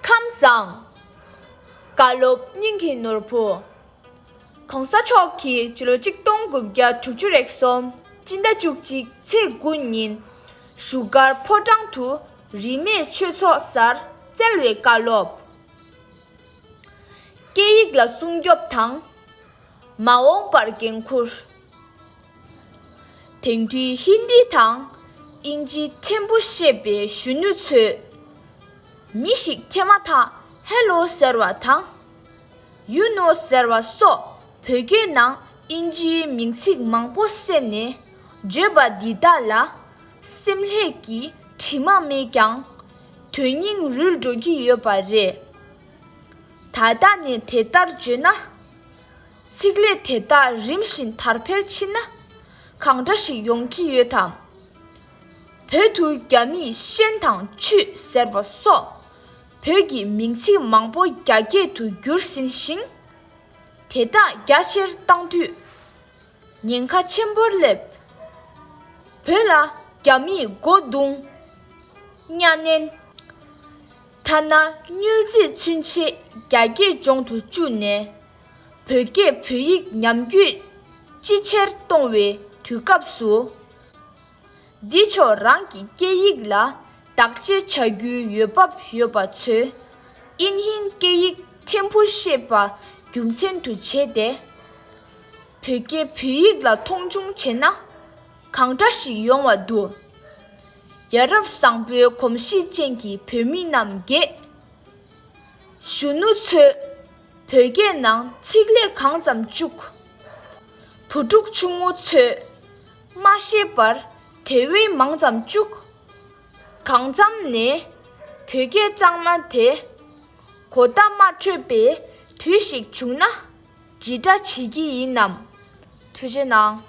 ཁམས་བཟང། བཀའ་སློབ་སྙིང་གི་ནོར་བུ། གོང་ས་མཆོག་གིས་སྤྱི་ལོ་གཅིག་སྟོང་དགུ་བརྒྱ་དྲུག་ཅུ་རེག་གསུམ་སྤྱི་ཟླ་བཅུ་གཅིག་ཚེས་དགུ་ཉིན་བཞུགས་སྒར་ཕོ་བྲང་དུ་རིས་མེད་ཆོས་ཚོགས་སར་བསྩལ་བའི་བཀའ་སློབ། སྐད་ཡིག་ལ་སྲུང་སྐྱོབ་དང། མ་འོངས་པར་འགན་འཁུར། དེང་དུས་ཧིན་དི་དང་དབྱིན་ཇི་ཕྲན་བུ་ཤེས་པའི་གཞོན་ནུ་ཚོས་མི་ཞིག་ཁྱེར་མ་ཐག་ཧེ་ལོ་ཟེར་བ་དང། ཡུ་ནོ་ཟེར་བ་སོགས་བོད་སྐད་ནང་དབྱིན་ཇིའི་མིང་ཚིག་མང་པོ་བསྲེས་ནས་བརྗོད་པ་འདི་དག་ལ་སེམས་ལྷད་ཀྱི་དྲི་མ་མེད་ཀྱང། དོན་སྙིང་རུལ་འགྲོ་གི་ཡོད་པ་རེད། ད་ལྟ་ནས་དེ་ལྟར་བརྗོད་ན། ཚིག་ལས་དེ་དག་རིམ་བཞིན་དར་འཕེལ་ཕྱིན་ན་གང་འདྲ་ཞིག་ཡོང་གི་ཡོད་དམ། བོད་དུ་རྒྱ་མིས་ཤན་དང་ཆུ་ཟེར་བ་སོགས་བོད་ཀྱི་མིང་ཚིག་མང་པོ་རྒྱ་སྐད་དུ་བསྒྱུར་ཟིན་ཞིང། དེ་དག་རྒྱ་ཆེར་བཏང་དུས་ཉེན་ཁ་ཆེན་པོར་སླེབས། བོད་ལ་རྒྱ་མིས་སྒོ་རྡུང། གཉའ་གནན། ཐ་ན་སྙུལ་རྩིས་ཚུན་ཆད་རྒྱ་སྐད་སྦྱོང་དུ་བཅུག་ནས། བོད་སྐད་བོད་ཡིག་ཉམས་རྒྱུད་ཅི་ཆེར་གཏོང་བའི་དུས་སྐབས་སུ། འདི་ཕྱོགས་རང་གི་སྐད་ཡིག་ལ་བདག་གཅེས་བྱ་རྒྱུའི་ཡོད་བབ་ཡོད་པ་ཚོས་ཨིན་ཧིན་སྐད་ཡིག་ཕྲན་བུ་ཤེས་པ་རྒྱུ་མཚན་དུ་བྱས་ཏེ། བོད་སྐད་བོད་ཡིག་ལ་མཐོང་ཆུང་བྱས་ན་གང་འདྲ་ཞིག་ཡོང་བ་འདུག་ཡ་རབས་བཟང་པོའི་གོམས་གཤིས་ཅན་གྱི་བོད་མི་རྣམས་དགེ། གཞོན་ནུ་ཚོས། བོད་སྐད་ནང་ཚིག་ལས་གང་ཙམ་བཅུག། བུ་ཕྲུག་ཆུང་ངུ་ཚོས་མ་ཤེས་པར་དེ་བས་མང་ཙམ་བཅུག། གང་འཚམ་ནས་བོད་སྐད་གཙང་མ་དེ་གོ་བརྡ་མ་འཕྲོད་པའི་དུས་ཤིག་བྱུང་ན་ཇི་འདྲ་བྱེད་ཀྱི་ཡིན་ནམ། ཐུགས་རྗེ་གནང།